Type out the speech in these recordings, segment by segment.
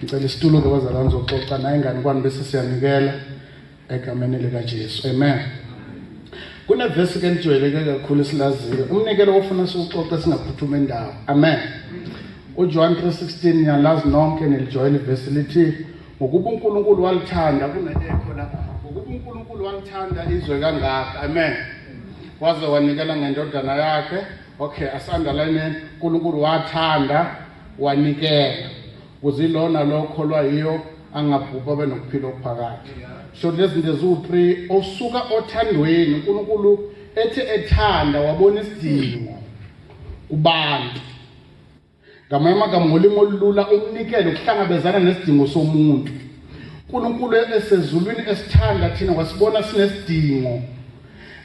ngicela isitulo-ke bazalwane zoxoxa naye ngani kwani bese siyanikela egameni likajesu amen kunevesi ke elijwayeleke kakhulu esilaziyo umnikelo ofuna siwuxoxe singaphuthuma indawo amen ujohane 316 niyalazi nonke nilijwayela ivesi lithi ngokuba unkulunkulu walithanda kunekekho la ngokuba unkulunkulu walithanda izwe kangaka amen waze wanikela ngendodana yakhe okay asandalayineni unkulunkulu wathanda wanikela kuzilona lo okholwa yiyo angabhubha abe nokuphila okuphakade so lezi zinto eziwu-three osuka othandweni unkulunkulu ethe ethanda wabona isidingo kubantu ngamanye amagama ngolimi olulula umnikelo ukuhlangabezana nesidingo somuntu unkulunkulu esezulwini esithanda thina wasibona sinesidingo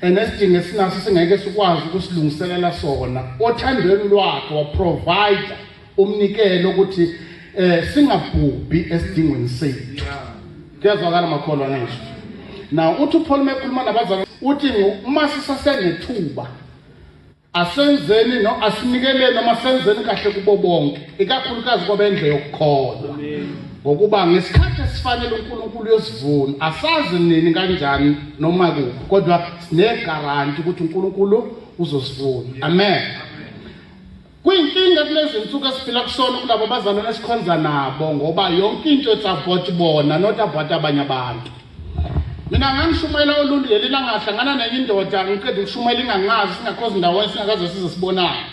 and esidingo esinaso singeke sikwazi ukusilungiselela sona othandweni lwakhe waprovider umnikelo ukuthi eh singabhubhi esidingweni sethu kuyazwakala makholwa ngisho now uthi uPaul mekhuluma nabazali uthi uma sisasenethuba Asenzeni no asinikeleni noma senzeni kahle kubo bonke, ikakhulukazi kwabendle yokukholwa. Ngokuba ngesikhathi esifanele uNkulunkulu uyosivuna, asazi nini kanjani noma kuphi, kodwa sinegaranti ukuthi uNkulunkulu uzosivuna. Amen. Kuyinkinga kulezi nsuku esiphila kusona kulabo bazalwane esikhonza nabo ngoba yonke into etsavoti bona not about abanye abantu. mina ngangishumayela uluntu leli langahlangana nenye indoda ngiqeda ukushumayela ingangazi singakhozi ndawonye singakaze size sibonayo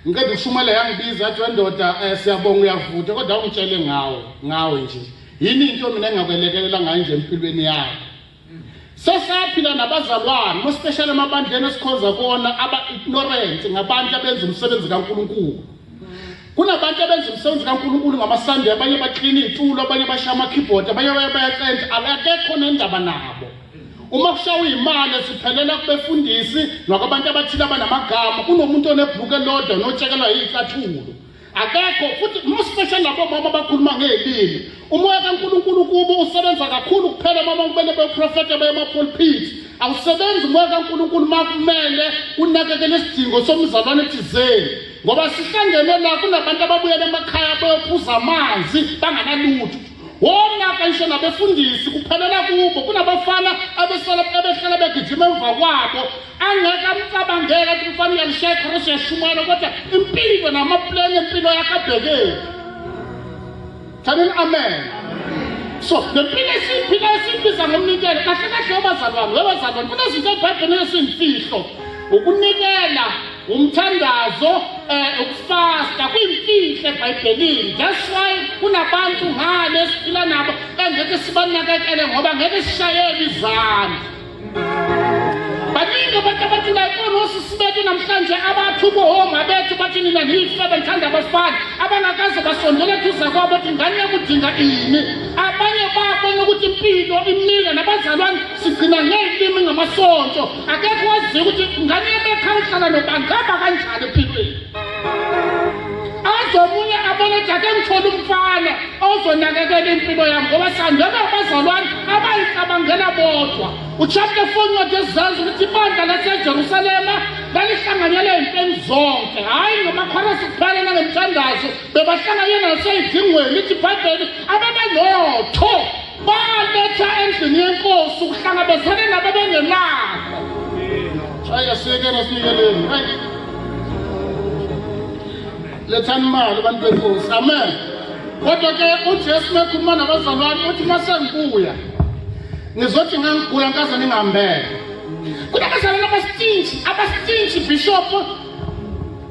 ngiqeda ukushumayela yangibiza yathi wendoda um eh, siyabonga uyavuta kodwa awungitshele ngawo ngawe nje yini into mina engakwelekelela ngayo nje empilweni yakho sesaphila nabazalwane mospeshali emabandleni esikhonza kona aba-ignorant ngabantu abenza umsebenzi kankulunkulu kunabantu abenza umsebenzi kaNkulunkulu ngamaSande abanye baklina iy'tulo abanye bashaya ama-keyboard abanye baye bayacentsha akekho nendaba nabo uma kushawa iy'mali siphelela kubefundisi nokwabantu abathile abanamagama kunomuntu onebhluku elodwa notshekelwa yiy'cathulo akekho futhi mospecial labo mama abakhuluma ngey'limi Umoya kaNkulunkulu kubo usebenza kakhulu kuphela uma kumele beprofete baye emapulpiti. Awusebenzi umoya kaNkulunkulu uma kumele unakekele isidingo somzalwane thizeni. Ngoba sihlangene la kunabantu ababuyela emakhaya beyophuza amanzi banganalutho. Wonaka ngisho nabefundisi kuphelela kubo kunabafana abesala abehlala begijima emva kwabo angeke amcabangela ukuthi mfana uyalishaya ikhosi yashumayela kodwa impilo namapleni empilo yakhe abhekeki Thanini amen. So the pile siphila esibiza ngomnikelo kahle kahle abazalwane webazalwane kunezinto eBhayibhelini esimfihlo ukunikela umthandazo eh ukufasta kwimfihlo eBhayibhelini that's why kunabantu ngale siphila nabo engeke sibanakekele ngoba ngeke sishayele izandla baningi abantu abathi bayibona osisi bethu namhlanje abathi ubuhoma bethu bathi nina niyife benithanda abafana abangakaze basondela eduza kwabo ukuthi ngane yakudinga ini abanye babona ukuthi impilo imile nabazalwane sigcina ngeyilimi ngamasonto akekho waziyo ukuthi ngane yabekhaya uhlala nobangaba kanjani empilweni azobuye abone jake ngithole umfana ozonakekela impilo yam ngoba sandela abazalwane abayicabangela bodwa uchapter 4 ncwadi ezizazi ukuthi ibandla lasejerusalema lalihlanganyela ey'ntweni zonke hhayi ngamakhorasi kuphela nangemthandazo bebahlanganyela nasey'dingweni ithi ibhayibheli ababenotho Baletha endlini yenkosi ukuhlangabezana nabebengenakho. Shaya siyekela siyekeleni. Lethani imali abantu benkosi. Amen. Kodwa ke uJesu mekhuluma nabazalwane uthi masengibuya ngizothi ngangigula nkaze ningihambele. Kunabazalwane abastinji, abastinji bishop